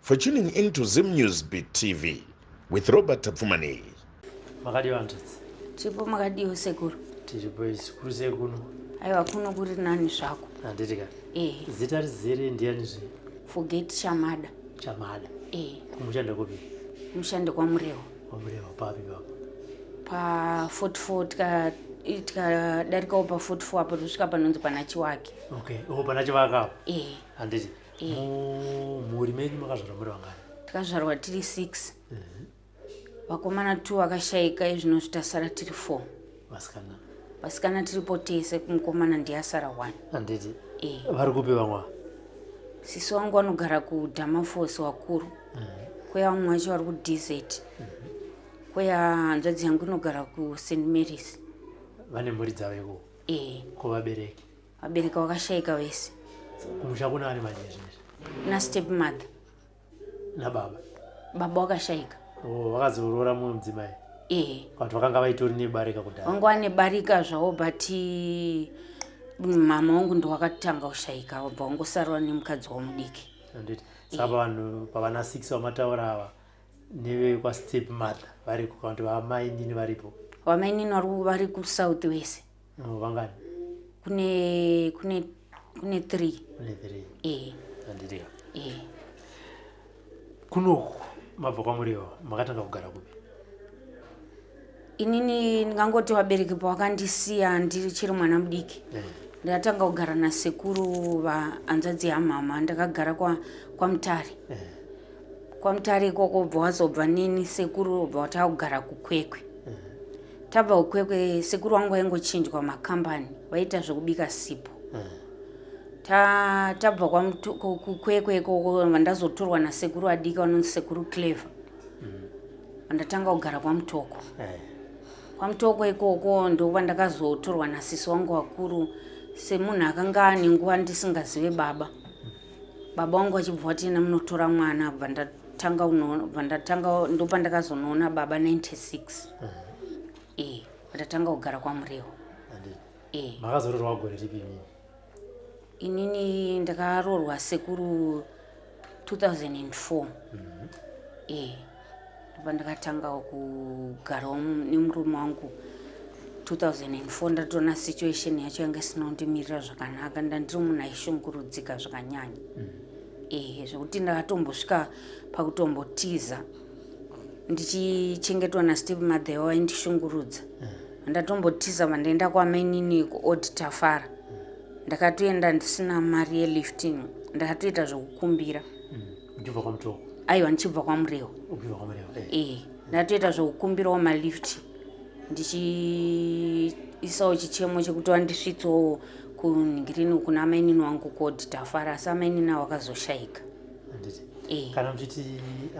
For tuning in to Zim News Beat TV with Robert Tapfumani. Makadii vantadzi? Chipo makadii sekuru? Tiri boys kuri sei kuno? Aiwa kuno kuri nani zvako. Handiti ka? Eh. Zita rizere ndiani zve? Forget Chamada. Chamada. Eh. Kumushanda kupi? Mushande kwa Murewa. Kwa Murewa papi papo? Pa 44 tika tikadarikawo pa 44 apo tosvika panonzi pana Chiwake. Okay. Oh pana Chiwake apo. Eh. Handiti? mumhuri menyu makazvarwa muri vangani takazvarwa tiri six mhm. vakomana two vakashaika izvinozvi tasara tiri four vasikana vasikana tiripo tese kumukomana ndiyasara one anditi eh. vari kupi vamwa sisi wangu vanogara kudhamafosi wakuru mhm. kweya vamwe vacho vari kudz mhm. kweya hanzvadzi yangu inogara kust marys vane mhuri dzavo ikoo eh. ko vabereki vabereka wakashaika wese kumusha kuna ari manje izvezvi nastep mother nababa baba wakashaika oh, vakazorora mumwe mudzimai ee but vakanga vaitori nebarika kudhara vanga vane barika zvavo but mama wangu ndowakatanga kushaika wabva wangosarwa nemukadzi wamudiki anditi saka vanhu pavana six vamataura ava nevekwastep mother variko kana kuti vamainini varipo vamainini vari kusouth wese No, vangani? Kune kune kune 3. Kune 3. Eh. Andiriya. Eh. Kunoku mabva kwamuriwo makatanga kugara kupi? Inini ndingangoti vabereki pavakandisiya ndiri chiri mwana mudiki. Eh. Ndakatanga kugara nasekuru vahanzvadzi yamama ndakagara kwa kwaMutare. Eh. Kwamutare ikoko bva wazobva nini sekuru bva watakugara kukwekwe. tabva ukwekwe sekuru wangu vaingochinjwa makambani vaita zvekubika sipo mm. ta, tabva kukwekwe ikoko vandazotorwa nasekuru adika vanonzi sekuru clever mm. vandatanga mm. kugara kwamutoko hey. Eh. kwamutoko ikoko ndokuvandakazotorwa nasisi wangu wakuru semunhu akanga ane nguva ndisingazive baba mm. baba wangu achibva wati ina munotora mwana bva ndatanga unoona bva ndatanga ndopandakazonoona baba 96 mm. e eh, ndatanga kugara kwamurewo e eh. makazororwa gore ripi inini inini ndakarorwa sekuru 2004 mm. e eh. pandakantangawo kugarawo nemurume wangu 2004 ndatoona situation yacho yanga isinondimirira zvakanaka ndandiri munhu aishungurudzika zvakanyanya mm. ehe zvekuti ndakatombosvika pakutombotiza ndichichengetwa nastep mother yavo vaindishungurudza mm. ndatombotiza vandaenda kwamainini kuod tafara mm. ndakatoenda ndisina mari yelifting ndakatoita zvekukumbira ndichibva kwamutoko aiwa ndichibva kwamurewo ubva kwamureva eh. ee ndatoita zvekukumbirawo malift ndichiisawo chichemo chekuti wandisvitsawo kunhirini uku namainini wangu kod tafara asi amainini awo akazoshayika handiti Eh. kana muchiti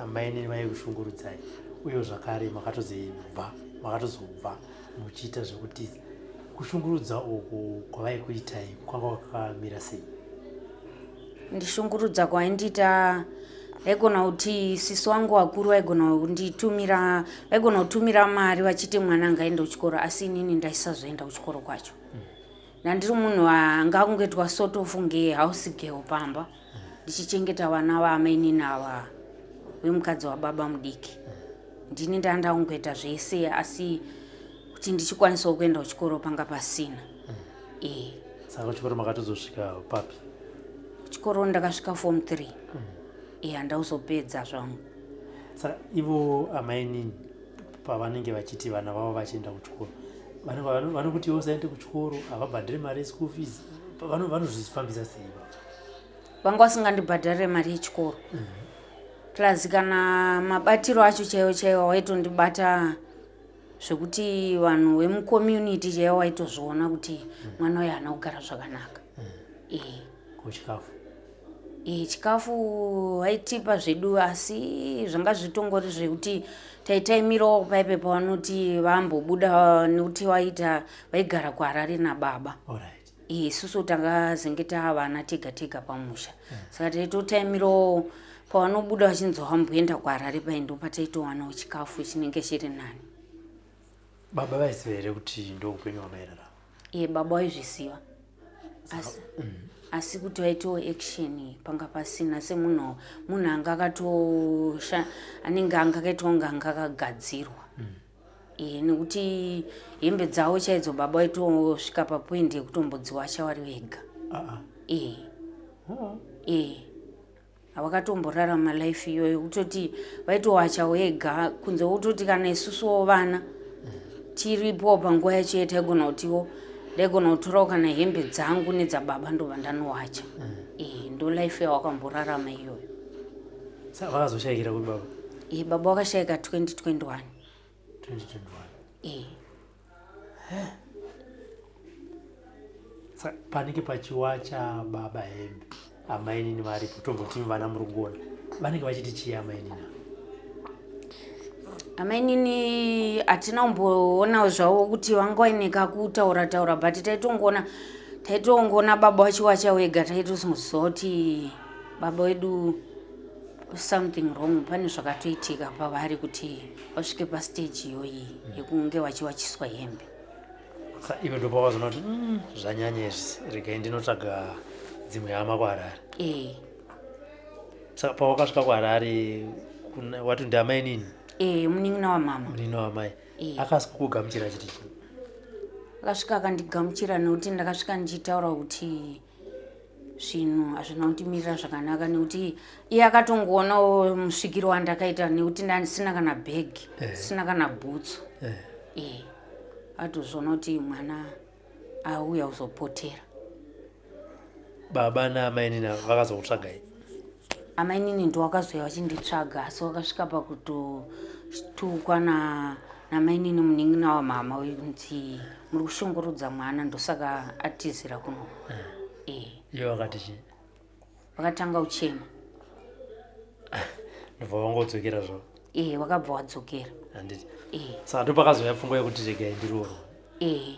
amainini vaikushungurudzai uye zvakare makatozobva makatozobva muchiita zvekutiza kushungurudza uku kwavaikuitai kwanga kwakamira sei ndishungurudza kwaindiita vaigona kuti sisi wangu vakuru vaigona kunditumira vaigona kutumira mari vachiti mwana anga aenda kuchikoro asi inini ndaisazoenda kuchikoro kwacho ndandiri munhu anga kungoitwa sort of nge house girl pamba ndichichengeta vana vaamainini ava vemukadzi wababa mudiki ndini ndanda kungoita zvese asi kuti ndichikwanisawo kuenda kuchikoro panga pasina eh. saka kuchikoro makatozosvika papi kuchikoro ndakasvika form three mm. iya eh, ndauzopedza zvangu saka ivo amainini pavanenge vachiti vana vavo vachienda kuchikoro vanokuti ivo saende kuchikoro havabhadhire mari yeschool fees vanozvifambisa sei vanga vasingandibhadharire mari yechikoro mm -hmm plus kana mabatiro acho chaiwo chaiwo waitondibata zvekuti vanhu vemucommunity chaiva waitozviona kuti mm. mwana uyo haana kugara zvakanaka mm. ee kuchikafu ee chikafu vaitipa zvedu asi zvanga zvitongori zvekuti taitaimirawo paipe pavanoti vambobuda nekuti vaita vaigara kuharare nababa Alright. isusu takazenge taavana tega tega pamusha mm. saka taitotaimirawo pavanobuda vachinzwa vamboenda kuharare pai ndo pataitowanawo chikafu chinenge chiri nani baba vaiziva here kuti ndo upenyu hwamairarama iye baba waizviziva asi mm. asi kuti vaitiwo action panga pasina semunhu munhu anga akatosha anenge anga akaitwa kunge anga akagadzirwa mm. Eh, nekuti hembe dzavo chaidzo baba vaitosvika papoint yekutombodziwasha vari vega ah. ee eh. ah. ee eh. havakatomborarama life iyoyo kutoti vaitowacha wega kunze kutoti kana isusuwo vana tiripo panguva yacho yetaigona kutiwo ndaigona kutorawo kana hembe dzangu nedzababa ndobva ndanowacha ee ndo life yawakamborarama iyoyo sa vakazoshayikira kuti baba e baba wakashaika 2021 e panenge pachiwa chababa hembe amainini varipo tombotimi vana murungona vanenge vachiti chii amainini ava amainini hatina kumboonawo zvavo kuti vanga vaineka kutaura taura but taitongoona taitongoona baba wachiwacha wega taitoziva kuti baba wedu something wrong pane zvakatoitika pavari kuti vasvike pastage iyoyi yekunge vachiwachiswa hembe iwe ndopavazonoti mm, zvanyanya izvi regai ndinotsvaga dzimwe hama kuharare e. saka pawakasvika kuharare wati ndiamai nini e, munin'ina wamama munin'ina wamai e. akasvika kugamuchira chiti akasvika akandigamuchira nekuti ndakasvika ndichitaura kuti zvinhu hazvina kundimirira zvakanaka nekuti iye akatongoonawo musvikiro wandakaita nekuti ndandisina kana bhegi eh. sina kana bhutsu eh. eh. atozviona kuti mwana auya kuzopotera baba naamainina vakazokutsvagai amainini ndowakazouya vachinditsvaga asi wakasvika pakutotukwa na namainini munin'ina wamama uyu kunzi muri kushungurudza mwana ndosaka atizira kuno eh. eh. iye wakati chii wakatanga uchema ndobva wangodzokera zvo ee eh, wakabva wadzokera handiti saka ndopakazouya pfungwa yekuti regai ndiroorwa ee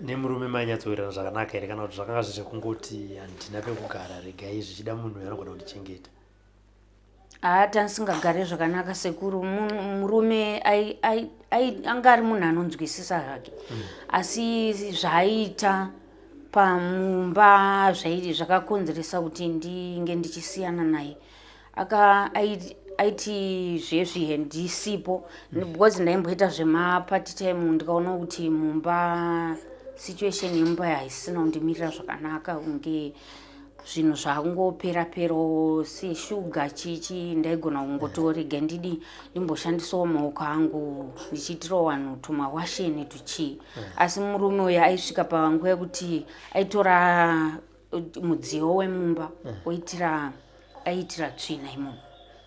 nemurume mainyatsowirirana zvakanaka here kana kuti zvakanga zviri zvekungoti handina pekugara regai zvichida munhu uyo anogona kundichengeta haa tanisingagare zvakanaka sekuru murume anga ari munhu anonzwisisa zvake mm. asi zvaaiita pamumba zvaii zvakakonzeresa kuti ndinge ndichisiyana naye aka aiti zvezvi handisipo because ndaimboita zvemaparty time ndikaona kuti mumba situation yemumba haisina kundimirira zvakanaka kunge zvinhu zvakungopera perawo seshuga chichi ndaigona kungotorega ndidi ndimboshandisawo maoko angu ndichiitirawo vanhu tumawasheni tuchii asi murume uyo aisvika panguva yekuti aitora mudziyo wemumba eh. oitira aitira tsvina imomo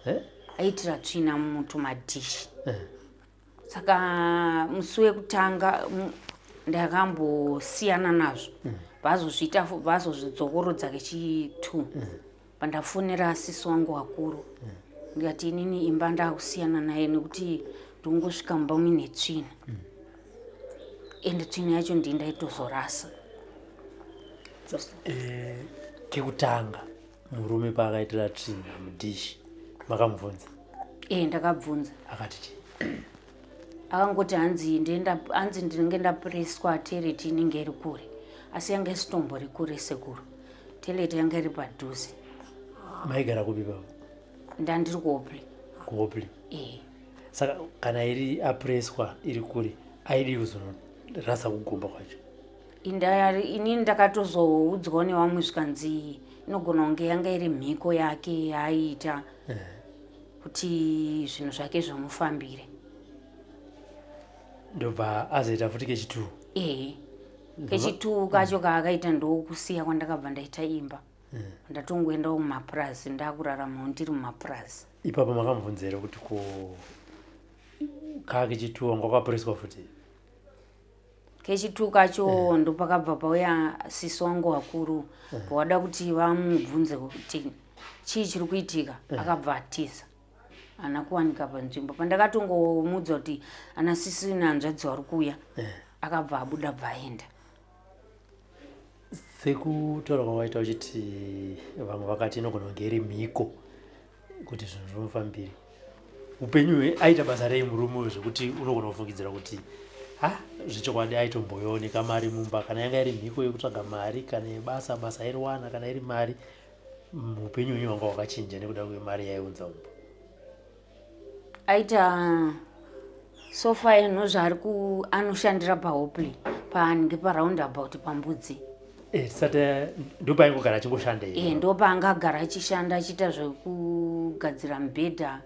eh? aitira tsvina mutumadishi eh. saka musi wekutanga ndakambosiyana nazvo hmm. vazozviita vazozvidzokorodza kechitwo hmm. pandafonera sisi wangu wakuru ndikati inini imba ndakusiyana naye nekuti ndongosvika mumba muine tsvina ende tsvina yacho ndii ndaitozorasa eh, kekutanga murume paakaitira tsvina mudishi makamubvunza ee eh, ndakabvunza akati chii akangoti hanzi ndienda hanzi ndinenge ndapreswa teleti inenge iri kure asi yanga isitombo rikure sekuru teleti yanga iri padhuze maigara kupi baba ndandiri kuopli kuopli ee saka kana iri apreswa iri kure aidi kuzorasa kugomba kwacho inini ndakatozoudzwa nevamwe zvikanzi inogona kunge yanga iri mhiko yake yaaiita eh. kuti zvinhu zvake zvomufambire ndobva azoita futi kechituwo ee kechituwo kacho kaakaita ndokusiya kwandakabva ndaita imba hmm. ndatongoenda kumapurazi ndakuraramawo ndiri mumapurazi ipapo makamubvunzere kuti ko kaa kechituwo ngwakapuriswa futi kechitu kacho yeah. ndopakabva pauya sisi wangu wakuru yeah. pawada kuti vamubvunze kuti chii chiri kuitika yeah. akabva atiza ana kuwanika panzvimbo pandakatongomudza kuti ana sisi nehanzvadzi wari kuuya yeah. akabva abuda bva aenda sekutaura kwawaita uchiti vamwe vakati inogona kunge iri mhiko kuti zvinhu zvinofambiri upenyu hwe aita basa rei murume uyo zvekuti unogona kufungidzira kuti ha zvechokwadi aitomboyoneka mari mumba kana yanga iri mhiko yekutsvaga mari kana yebasa basa airiwana kana iri mari upenyu hwenyu wanga wakachinja nekuda kwemari yaiunza umba aita sofa eno zvaari ku anoshandira pahopley paanenge paround about pambudzi eh, sati ndopaingogara achingoshanda e eh, ndopaangagara achishanda achiita zvekugadzira mubhedha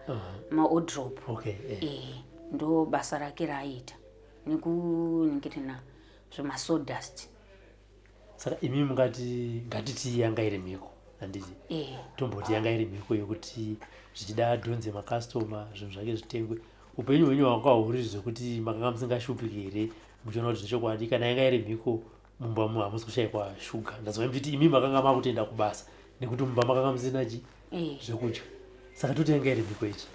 maodrop okay, e eh. eh, ndo basa rake raaiita nekuningirina zvemasodust saka imi mungati ngatiti yanga iri mhiko handiti eh. tomboti yanga iri mhiko yekuti zvichida adhonze makastoma zvinhu zvake zvitengwe upenyu hwenyu hwanga huri zvekuti makanga musingashupiki here muchiona kuti zvechokwadi kana yanga iri mhiko mumba mu hamusi kushaikwa shuga ndazova mtiti imi makanga makutenda kubasa nekuti mumba makanga musina chi eh. zvekudya saka toti yanga iri mhiko ichi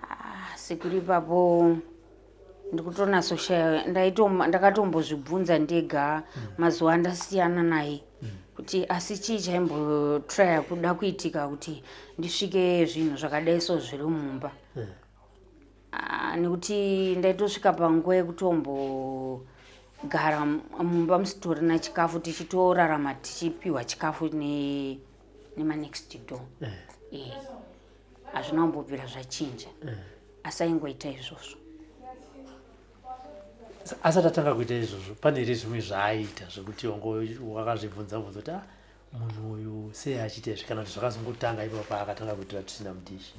ah, sekuri ipapo ndikutonatsoshaya ndakatombozvibvunza ndega mm. mazuva andasiyana naye mm. kuti asi chii chaimbotraya kuda kuitika kuti ndisvike zvinhu zvakadai so zviri mumba eh. ah, nekuti ndaitosvika panguva yekutombogara mumba musitori na chikafu tichitorarama tichipiwa chikafu nemanext door eh. Eh. hazvina kumbobvira zvachinja eh. asi aingoita izvozvo asati atanga kuita izvozvo pane here zvimwe zvaaiita zvekuti wakazvibvunza bvunza kuti ah, munhu uyu sei achiita izvi kana kuti zvakazongotanga ipapo paakatanga kuitira tusina mudishi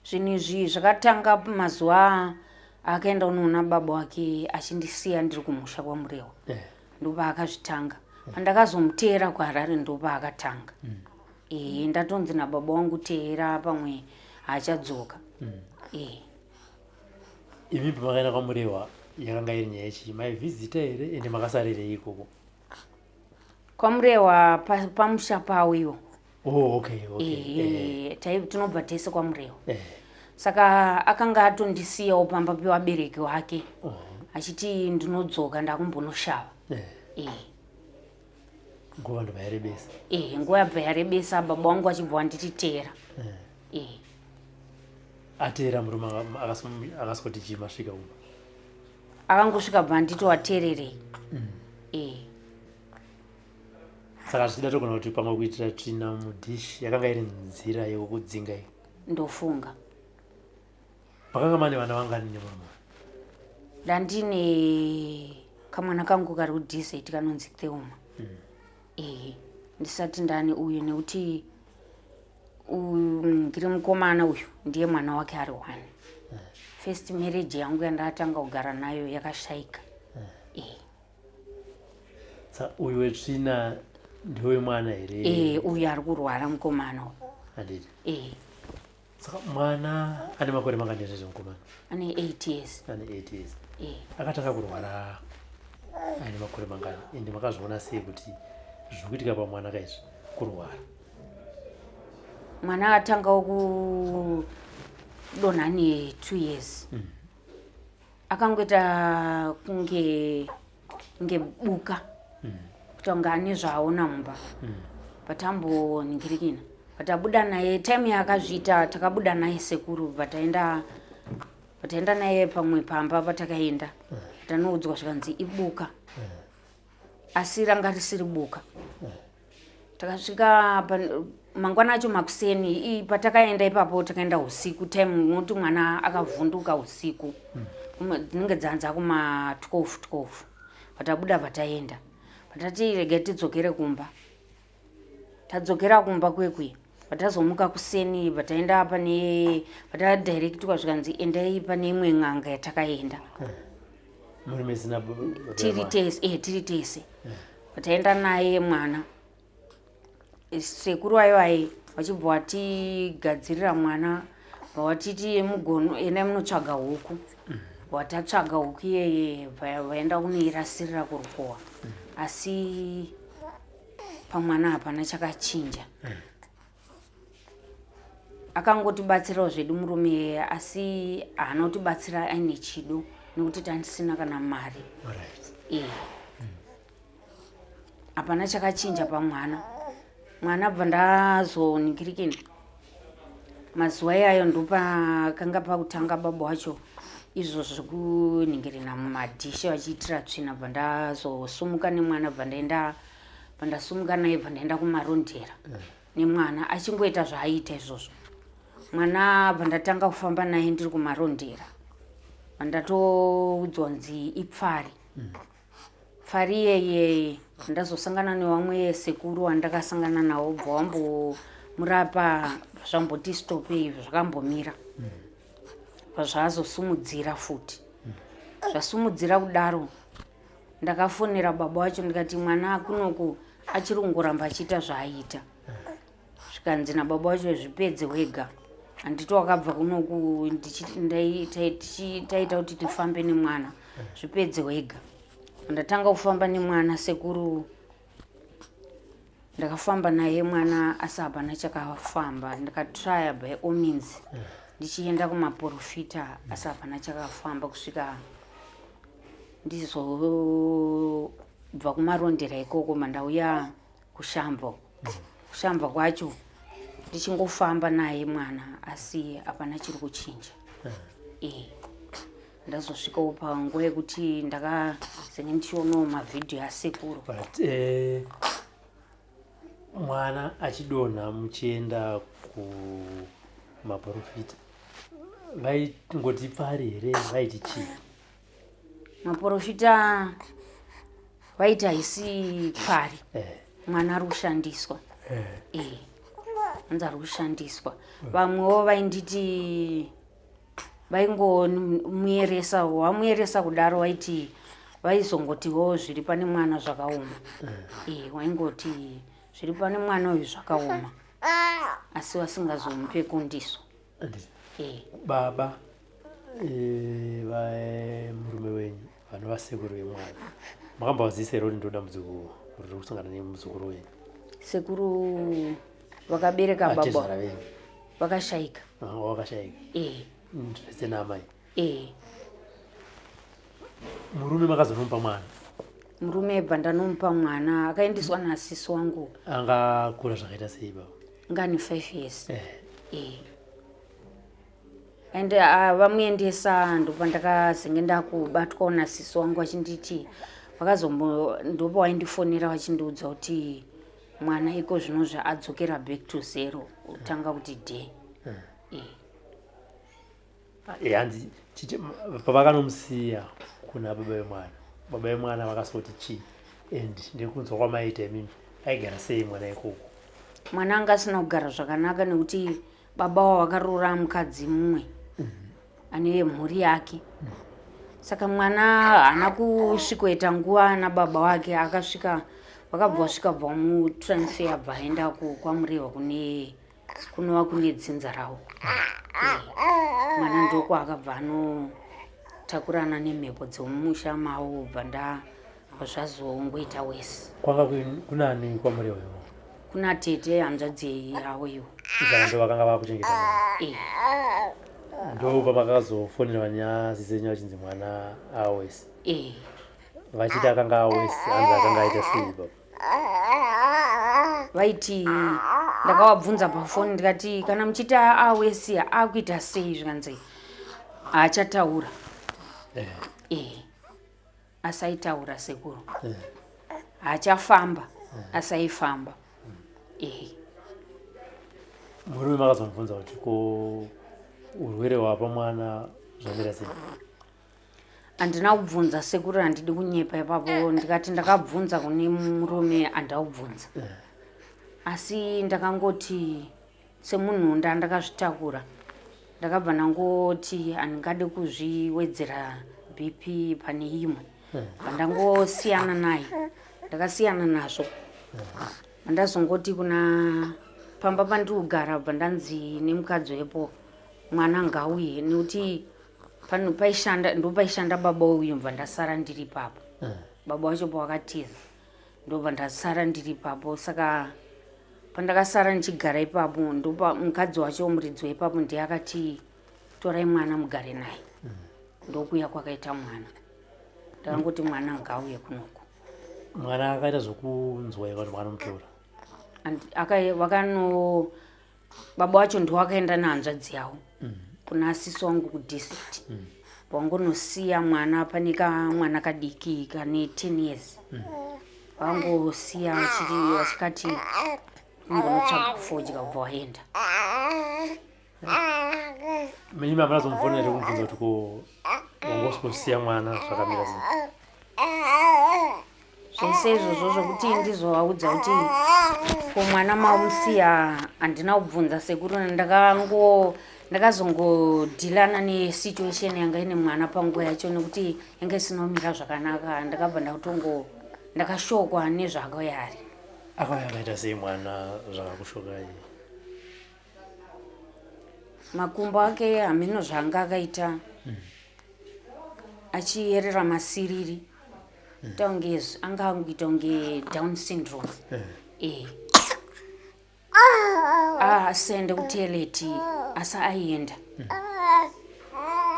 zvinhu izvi zvakatanga mazuva akaenda unoona baba wake achindisiya ndiri kumusha kwamurehwa eh. ndopaakazvitanga pandakazomuteera kuharare ndopaakatanga mm. ee ndatonzi nababa wangu teera pamwe haachadzoka mm. ee imi pamakaenda kwamurewa yakanga iri nyaya chii maivhizita here ende makasarerei ikoko kwamurewa pamusha pa pawo iwo oh, okay, okay. E, eh, eh. tinobva tese kwamurewa eh. saka akanga atondisiyawo pamba pevabereki wake oh. achiti ndinodzoka ndakumbonoshava eh. eh. nguva ndobva yarebesa ehe nguva yabva yarebesa baba wangu achibva wandititeera eh. ehe ateera murume akaswoti chii masvika uma akangosvika bva anditi wateererei mm. ehe saka zvichida togona kuti pamwe kuitira tsvina mudish yakanga iri nzira yekukudzinga iyo ndofunga Pakanga mane vana vangani nemama? Ndandine kamwana kangu kari kudesert kanonzi Theuma. Mm. Eh, ndisati ndani uyu nekuti ndiri mukomana uyu ndiye mwana wake ari one. Mm. First marriage yangu yandatanga kugara nayo yakashaika. Mm. Eh. Sa uyu wetsvina ndiwe mwana here? Eh, uyu ari kurwara mukomana uyu. Handiti? Eh. saka mwana ane makore mangani zvezvo mukomana ane 8 years ane 8 years eh. akatanga kurwara aine makore mangani ende makazviona sei kuti zvikuitika pamwana ka izvi kurwara mwana atangawo kudonha ane two years mm. akangoita kunge ngebuka kutanga ane zvaaona mumba patamboningirikina patabuda naye time yaakazviita takabuda naye sekuru pataenda pataenda naye pamwe pamba patakaenda tanoudzwa zvikanzi ibuka asi ranga risiri buka takasvika mangwana acho makuseni patakaenda ipapo takaenda usiku time unoti mwana akavhunduka usiku dzinenge dzanza kuma 12 12 patabuda pataenda patati rega tidzokere kumba tadzokera kumba kwekwi patazomuka kuseni pataenda pane patadirectwa zvikanzi endai pane imwe n'anga yatakaenda tiri tese e tiri tese pataenda naye mwana sekuru ayo aye vachibva watigadzirira mwana vawatiti mugono endai munotsvaga huku mm. watatsvaga huku iyeye vaenda kunoirasirira kurukowa mm. asi pamwana hapana chakachinja mm. akangotibatsirawo zvedu murume asi haana kutibatsira aine chido nekuti tandisina kana mari eh. mm. hapana chakachinja pamwana mwana bva ndazoningirikini mazuva iyayo ndopakanga pakutanga baba wacho izvo zvekunyengerena mumadhishi vachiitira tsvina bva ndazosumuka nemwana bva ndaenda bva ndasumuka naye bva ndaenda kumarondera eh. nemwana achingoita zvaaiita izvozvo mwana bva ndatanga kufamba naye ndiri kumarondera bva ndatoudzwa nzi ipfari mm. fariyeye ndazosangana newamwe sekuru wandakasangana nawo bva wambomurapa zvamboti stope izvo zvakambomira pazvaazosumudzira futi zvasumudzira kudaro ndakafonera baba wacho ndikati mwana akunoku achiri kungoramba achiita zvaaiita zvikanzi nababa wacho zvipedze wega handiti wakabva kunoku taita kuti tifambe nemwana zvipedze wega ndatanga kufamba nemwana sekuru ndakafamba naye mwana asi hapana chakafamba ndikatrya by all means ndichienda kumaporofita asi hapana chakafamba kusvika ndizobva kumarondera ikoko mandauya kushambo kushambo kwacho ndichingofamba naye mwana asi hapana chiri kuchinja eh. eh. ndazosvikawo panguva yekuti ndakazenge ndichionawo mavhidhiyo asekuru eh, mwana achidonha muchienda kumaprofita vaingoti pari here vaiti chii maporofita vaiti haisi pfari eh. mwana ari kushandiswa eh. eh. anzi ari kushandiswa vamwewo vainditi vaingomuyeresa wamuyeresa kudaro waiti vaizongotiwo zviri pane mwana zvakaoma e, waingoti zviri pane mwana uyu zvakaoma asi vasingazomupe kundiso baba eh, eh, murume wenyu vanova sekuru vemwana makambavazisa here kuti ndoda muzukuru kuti kusangana nemuzukuru wenyu sekuru vakabereka baba vakashaika vakashaika zvese naamai ee murume makazonomupa mwana murume ebva ndanomupa mwana akaendeswa naasisi wangu angakura zvakaita sei baba ngani five years eh. ee and ah, vamuendesa ndopa ndakazenge ndakubatwawo nasisi wangu achinditi vakazombo ndopa waindifonera vachindiudza kuti mwana iko zvino zvaadzokera back to zero utanga kuti day eh. Eh, hanzi pavakanomusiya kuna baba vemwana baba vemwana vakasoti chii and ndekunzwa kwamaita imimi aigara sei mwana ikoko mwana anga asina kugara zvakanaka nekuti baba wavo vakaroora mukadzi mumwe mhm. ane mhuri yake mhm. saka mwana haana kusvikoita nguva ana baba wake akasvika vakabva vasvika bva mutransfer bva aenda kwamurehwa kune kunova kune dzinza rawo mwana ndoko akabva anotakurana nemhepo dzemumusha mavo ubva nda zvazongoita wesi kwanga kunani kwamuri uyo kuna tete hanzvadzi yavo iyo ndo vakanga vakuchengeta eh. ndo pamakazofonerwa nyaya zizenyu vachinzi mwana awesi eh. vachiti akanga awesi hanzi akanga aita sei baba vaitii ndakavabvunza pafoni ndikati kana muchiti awesiya akuita sei zvikanzi haachataura eh. eh. asaitaura sekuru eh. haachafamba eh. asaifamba eh. murume makazomubvunza kuti ko urwere hwapa mwana zvamira sei handina kubvunza sekuru handidi kunyepa ipapo eh. ndikati ndakabvunza kune murume andaubvunza eh. asi ndakangoti semunhu ndandakazvitakura ndakabva ndangoti handingade kuzviwedzera bp pane imwe eh. vandangosiyana naye ndakasiyana nazvo vandazongoti kuna pamba pandikugara bva ndanzi nemukadzi wepo mwana ngauye nekuti pano paishanda ndopaishanda baba uyu mva ndasara ndiri papo eh. baba wacho pawakatiza ndobva ndasara ndiri papo saka pandakasara ndichigara ipapo ndopa mukadzi wacho muridzi waipapo ndiye akati torai mwana mugare naye eh. ndokuya kwakaita mwana ndakangoti mwana ngauye kunoku mwana akaita zvokunzwa eva zvavanomutora akano baba wacho ndiwo akaenda nehanzvadzi yawo mm. kuna asisi wangu kudistrict mm. wangonosiya mwana pane kamwana kadiki kane ten years mm. wangosiya vachikati ngonotsvaga kufodya kubva waenda mimi mama nazomufona ere kumubvunza kuti ko wangosikusiya mwana zvakamira sei zvese izvozvo zvokuti ndizovaudza kuti ko mwana mamusiya handina kubvunza sekuru ndakango ndakazongodhilana nesituation yanga ine mwana panguva yacho nekuti yanga isinomira zvakanaka ndakabva ndakutongo ndakashokwa nezvakayari akauya akaita sei mwana zvakakushokai makumbo ake hameno zvaanga akaita hmm. achiyerera masiriri mm. tonge anga anguita kunge down syndrome eh. eh. ah, asende kuteleti asi aienda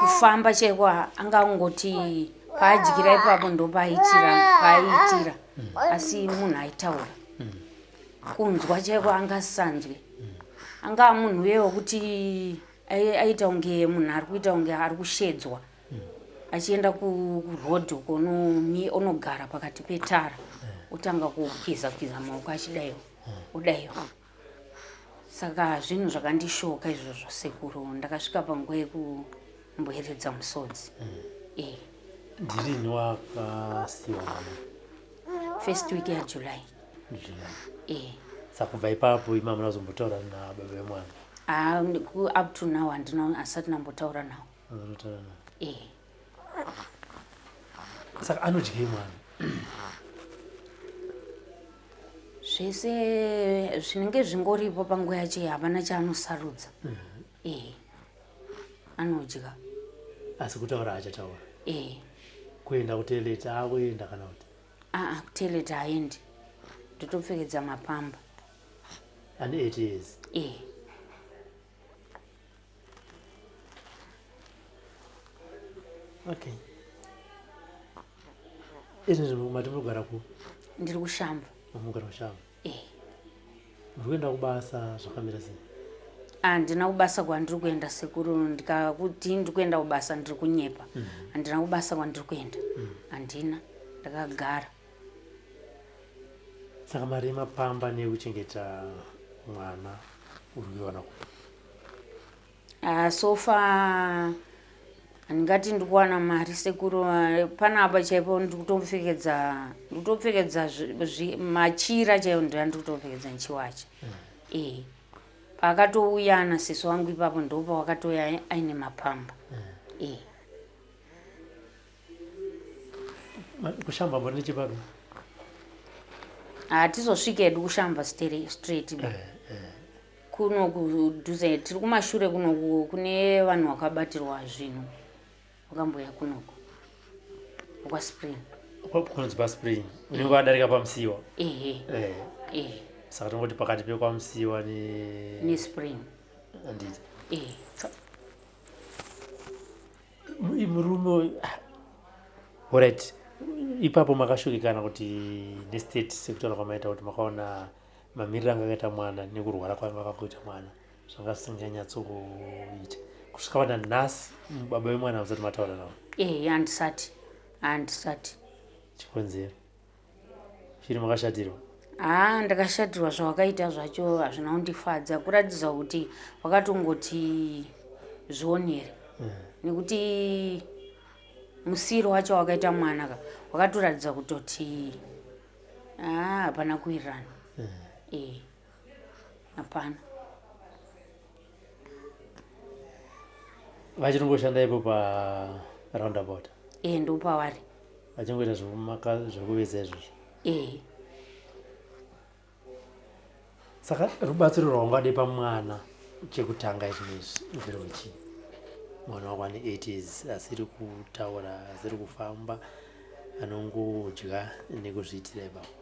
kufamba chaiko anga angoti paadyira ipapo ndopaaitira paaitira asi munhu aitaura kunzwa chaiko anga asanzwe anga munhu uye wekuti aita kunge munhu ari kuita kunge ari kushedzwa achienda kuroad uko onogara pakati petara otanga kukwiza kwiza maoko achidaiwo odaiwo saka zvinhu zvakandishoka izvozvo sekuru ndakasvika panguva yekumboeredza musodzi mm. e ndirini wakasiwana first week yajuly july e saka kubva ipapo imama nazombotaura nababa vemwana ah, up to now handina asati nambotaura nawo eh. saka anodyei mwana zvese zvinenge zvingoripo panguva yacho havana chaanosarudza mhm. eh. anodya asi kutaura achataura eh. kuenda kuteleta akuenda kana kuti aa kuteleta aendi ndotopfekedza mapamba ane 8 years eh. okay izvi nzvimbo mati muri kugara ku ndiri kushamba mugara kushamba e eh. muri kuenda kubasa zvakamira sei handina ah, kubasa kwandiri kuenda sekuru ndikakuti ndiri kuenda kubasa ndiri kunyepa mhm. handina mm -hmm. kubasa kwandiri kuenda mhm. handina mm -hmm. ndakagara saka mari yemapamba neyekuchengeta mwana uri kuiwana ku Ah, so far handingati ndiri kuwana mari sekuru ah, panapa chaipo ndiri kutopfekedza ndiri kutopfekedza zvi- zvi- machira chaiwo ndoya ndiri kutopfekedza ndichiwacha eh paakatouya ana sisi wangu ipapo ndopawakatouya aine mapamba eh kushamba mbori nechipapi hatizosvike hedu kushamba straight eh, eh. kuno kudhuze tiri kumashure kunoku kune vanhu vakabatirwa zvinhu vakamboya kunoku kwaspring kunonzi paspring unenge wadarika pamusiwa ehe eh. ehe saka tingoti pakati pekwamusiwa nespring anditi ehe murume uyu orit ipapo makashurikana kuti nestate sekutaura kwamaita kuti makaona mamiriro anga akaita mwana nekurwara kwanga akakuita mwana zvanga zvisinganyatsokuita kusvika vana nhasi baba vemwana vasati mataura navo ehe handisati handisati chikonzero shiri makashatirwa haa ah, ndakashatirwa zvawakaita zvacho hazvina kundifadza kuratidza kuti wakatongoti zvionere mm. nekuti musiro wacho wakaita mwana ka wakatoratidza kutoti ah, hapana kuwirirana mm. eh. hapana vachitomboshanda ipo paroundabout e eh, ndopavari vachingoita zvekuveza izvozvo e eh. saka rubatsiro rwaungade pamwana chekutanga ichinoizvi nderochii mwana wako ane eight years asiri kutaura asiri kufamba anongodya nekuzviitira ipapo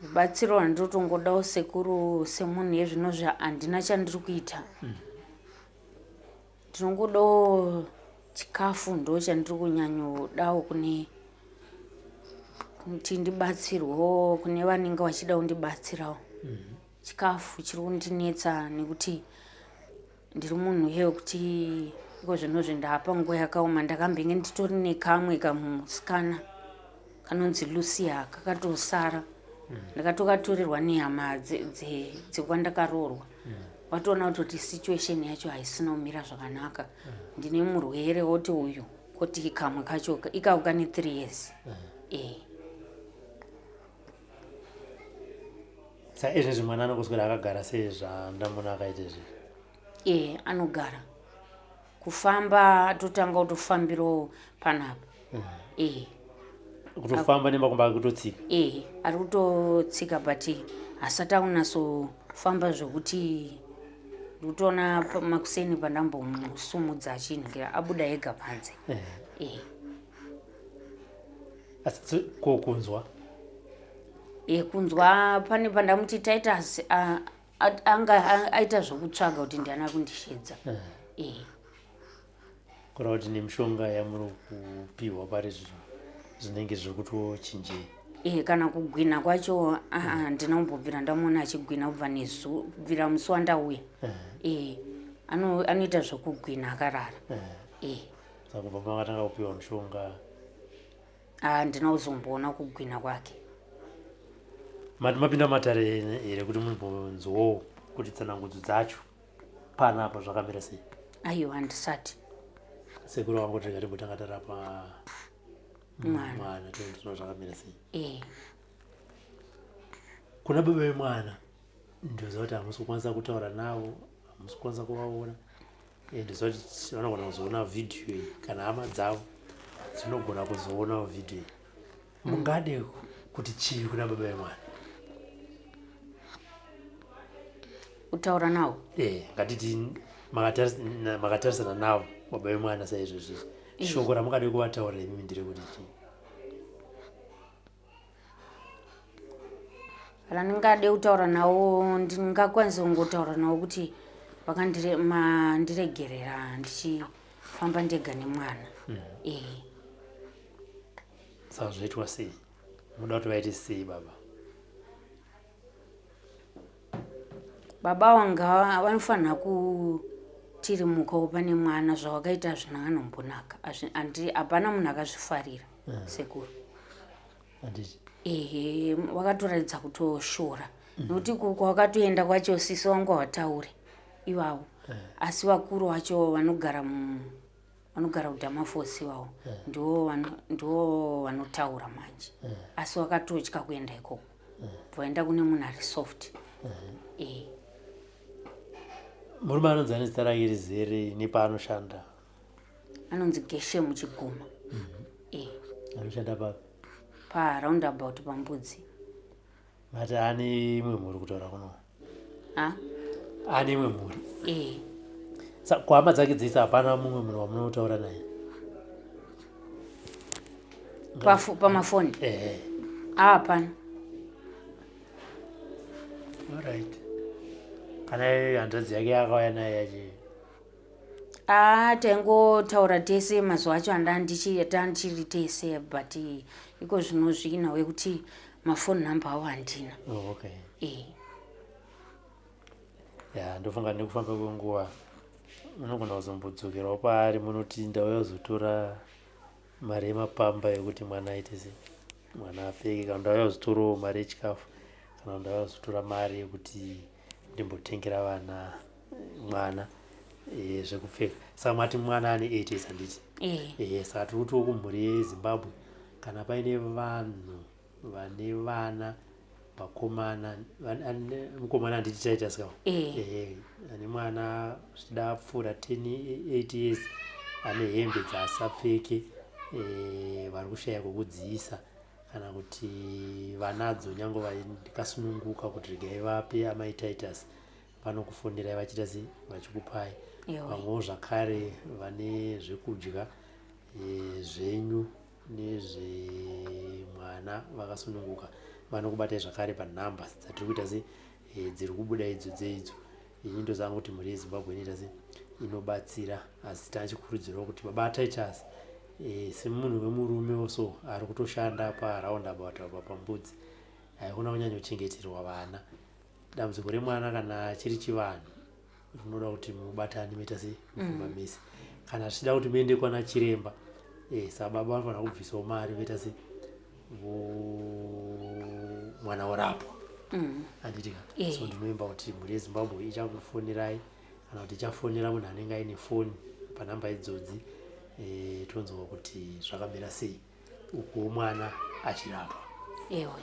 rubatsiro rwandinotongodawo sekuru semunhu yezvino zvahandina chandiri kuita mm. ndinongodawo chikafu ndo chandiri kunyanyodawo kune kuti ndibatsirwewo kune vanenge vachida kundibatsirawo mm. chikafu chiri kundinetsa nekuti ndiri munhu uye wekuti iko zvinozvi ndaapa nguva yakaoma ndakambenge nditori nekamwe kamusikana kanonzi lucia kakatosara ndakatokatorerwa nehama dzekwandakaroorwa watoona kuti kuti situation yacho haisina kumira zvakanaka ndine murwere woti uyu koti kamwe kacho ikako kane three years ee eh. eh. sa izvezvi mwana anongoswera akagara sei zvandamuna akaita izvi ee eh, anogara kufamba totanga kutofambirawo panapa mm. ee eh. kutofamba nemakumba ari kutotsika ee eh, ari kutotsika but hasati akunatsofamba zvokuti ndikutoona makuseni pandambomusumudza achinhukira abuda ega panze ee asi ko kunzwa e kunzwa pane pandamuti titus anga aita zvokutsvaga kuti ndiana kundishedza eh. eh. kureva kuti nemishonga yamuri kupihwa pari zvino zvinenge zviri kutochinjei e kana kugwina kwacho handina kumbobvira ndamuona achigwina kubva nezu kubvira musi wandauya e anoita zvokugwina akarara e saka kubva pamakatanga kupiwa mushonga handina ah, kuzomboona kugwina kwake mati mapinda matare here kuti mumbonzwawo kuti tsanangudzo dzacho pana apa zvakamira sei aiwa handisati sekuru wangu tinga timbotanga tarapa mwana tinoona zvakamira sei eh. kuna baba vemwana ndoziva kuti hamusi kukwanisa kutaura navo hamusi kukwanisa kuvaona ndizoti vanogona kuzoona vhidhiyo iyi kana hama dzavo dzinogona kuzoonawo vhidhiyo iyi mm. mungade kuti chii kuna baba vemwana kutaura navo e eh, ngatiti makatarisana navo baba vemwana saizvozvizvi shoko ramungade kuvataura imi ndiri kuti chii kana ndingade kutaura nawo ndingakwanisa kungotaura nawo kuti vakandiregerera ndichifamba ndega nemwana mm. e saka zvoitwa sei muda kuti vaite sei baba baba wanga vanofanira kutirimuka upa nemwana zvawakaita hazvina anombonaka andi hapana munhu akazvifarira eh. sekuru ehe wakatoratidza kutoshora mhm. nokuti kwawakatoenda kwacho sisi wangu hawataure ivavo eh. asi vakuru vacho vanogara mu vanogara kudama fosi iwawo eh. ndiwo vanotaura manje eh. asi wakatotya kuenda ikoko eh. vaenda kune munhu ari soft e murume anonzi ane zita rake rizere nepaanoshanda anonzi geshe muchiguma mhm. e anoshanda papi paroundabout pambudzi mati ane imwe mhuri kutaura kuno ane imwe mhuri eh. sa kuhama dzake dzese hapana mumwe munhu wamunotaura naye pamafoni ehe hapana orit kana hanzvadzi yake yakauya naye yachi a taingotaura tese mazuva acho andandichiita ndichiri tese but iko zvino zviinawe kuti mafoni number awo handina oh, okay. e. ya ndofunga nekufamba kwenguva unogona kuzombodzokerawo paari munoti ndauya kuzotora mari yemapamba yekuti mwana aite se mwana apfeke kana ndauya kuzotorawo mari yechikafu kana ndauya kuzotora mari yekuti ndimbotengera vana mwana eh, zvekupfeka saka mati mwana ane eight years handiti Eh. Eh, saka tiri kutiwo kumhuri yezimbabwe kana paine vanhu vane vana vakomana van- ane- mukomana handiti taita sikawo Eh. Eh, ane mwana zvichida apfuura 10 8 years ane hembe dzaasapfeke eh, vari kushaya kwekudziisa kana kuti vanadzo nyange vaikasununguka kuti regai vape amai titus vanokufonderai vachiita sei vachikupai vamwewo zvakare vane zvekudya e, zvenyu nezvemwana vakasununguka vanokubatai zvakare panumber dzatiri kuita sei e, dziri kubuda idzo dzeidzo ini ndozanga kuti mhuri yezimbabwe inoita se inobatsira asi tachikurudzirwa kuti baba titus e, eh, semunhu wemurume oso ari kutoshanda paround about apa pambudzi haikona kunyanyochengeterwa vana dambudziko remwana kana chiri chivanhu rinoda kuti mubatani moita se mufumba mm. mese kana zvichida kuti muende kwana chiremba e, sababa vanofanira kubvisawo mari voita se mwana orapwa mm. anditika eh. so ndinoimba kuti mhuri yezimbabwe ichakufonirai kana kuti ichafonera munhu anenge aine foni panhamba idzodzi eh, tonzwa kuti zvakamira sei ukuwo mwana achirapwa ewe